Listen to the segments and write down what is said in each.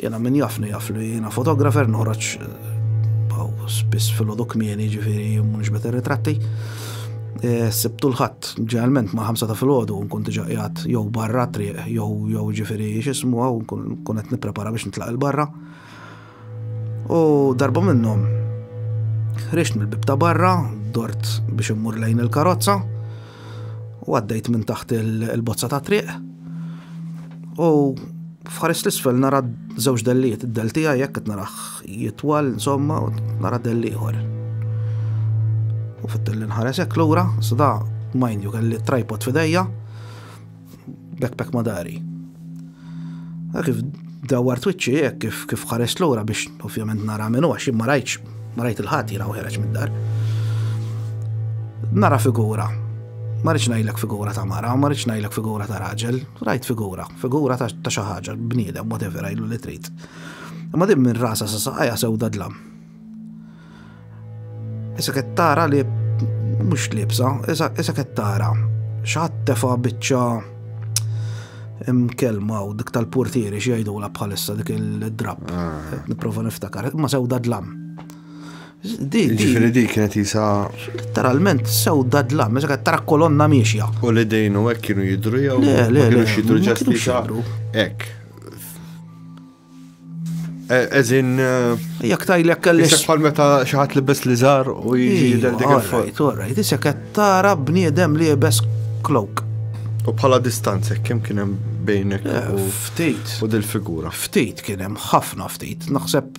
Jiena min jafni jaf li jiena fotografer noħroġ spiss filgħodu kmieni ġifieri mhux beta ritratti. E, sibtu l-ħadd ġeneralment ma' ħamsa ta' filgħodu nkun diġà qiegħed jew barra triq jew jew ġifieri x'ismu hawn nkun qed nipprepara biex nitlaq il-barra. U darba minnhom ħriġt mill-bib ta' barra, dort biex immur lejn il-karozza, u għaddejt minn taħt il-bozza ta' triq u fħares l-isfel nara żewġ delliet, id-del tiegħi jekk qed naraħ jitwal insomma u nara delli ieħor. U fit-tilli nħares hekk lura, sada mind you kelli tripod f'idejja, backpack madari. Kif dawar twitċi hekk kif kif ħares lura biex ovvjament nara minnu għax ma rajtx ma rajt il-ħadd jina u ħereġ mid-dar. Nara figura. Ma rridx ngħidlek figura ta' mara, ma rridx ngħidlek figura ta' raġel, rajt figura, figura ta' xi ħaġa, bniedem, whatever, għajlu li trid. Imma din minn rasa sa saqajja sewda dlam. Issa qed tara li mhux libsa, issa qed tara x'ħadd tefa' biċċa imkelma u dik tal-portieri xi jgħidula bħalissa dik il-drab. Ah. Nipprova niftakar, ma sewda dlam. Ġifiri di kienet jisa. Literalment sewda dlam, meta tara kolonna miexja. U li dejnu hekk kienu jidru jew. Le, le, le. Kienu xidru ġast jisa. Hekk. Eżin. Eh, Jak tajlek kellix. Isek bħal meta xaħat li bes li zar u jġi del dik il-fuq. Alright, isek tara bniedem li bes klok. U bħala distanza, kem kienem bejnek. Eh, ftit. U dil-figura. Ftit kienem, ħafna ftit. Naħseb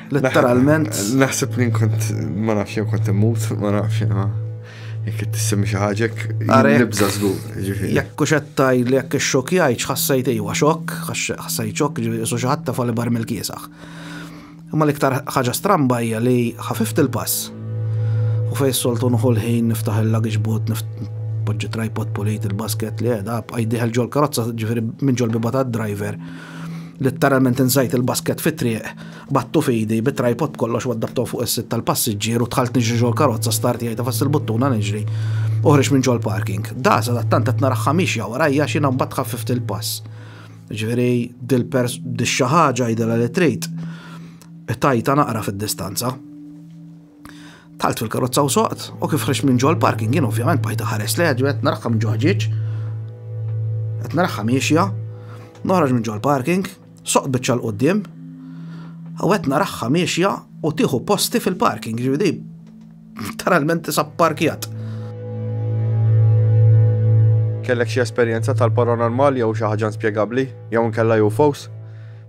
Letteralment. Naħseb li nkont ma nafx jew kont immut, ma nafx ma. Jekk tissemmi xi ħaġek, nibża żgur. Jekk u xettaj li jekk ix-xokk jgħid ħassajt ejwa xokk, ħassajt xokk ġifieri su xi ħadd fali bar mill-kiesaħ. Imma l-iktar ħaġa stramba hija li ħafift il-pass. U fejn soltu nħu l-ħin niftaħ il-luggage boot, poġġi tripod polit il-basket li għeda, għajdiħel ġol karozza ġifiri minn ġol biba ta' driver, letteralment insajt il-basket fit-triq Battu f'idi, bit-tripod b'kollox u addapptaw fuq is-sit tal-passiġġier u dħalt niġri ġol-karozza star tiegħi tafas il-buttuna niġri u ħriġt minn ġol-parking. Da, sadattant qed naraħħa miexja warajja għax jiena mbagħad ħaffift il-pass. Jiġifieri dil-pers dix-xi ħaġa għidilha li trid. Tajta naqra fid-distanza. Dħalt fil-karozza u soqt u kif ħriġt minn ġol-parking jien ovvjament bajta ħares li għadu qed naraħħa minn ġoħġieġ. Qed naraħħa miexja, noħroġ minn ġol-parking, Soqt biċċa 'l quddiem u qed naraha miexja u tieħu posti fil-parking, ġifieri literalment tisa' pparkjat. Kellek xi esperjenza tal-paranormal jew xi ħaġa inspjegabbli jew inkella UFOs?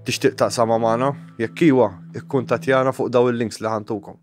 Tixtieq taqsamha magħna? Jekk iwa, ikkuntattjana fuq dawn il-links li ħa ntukom.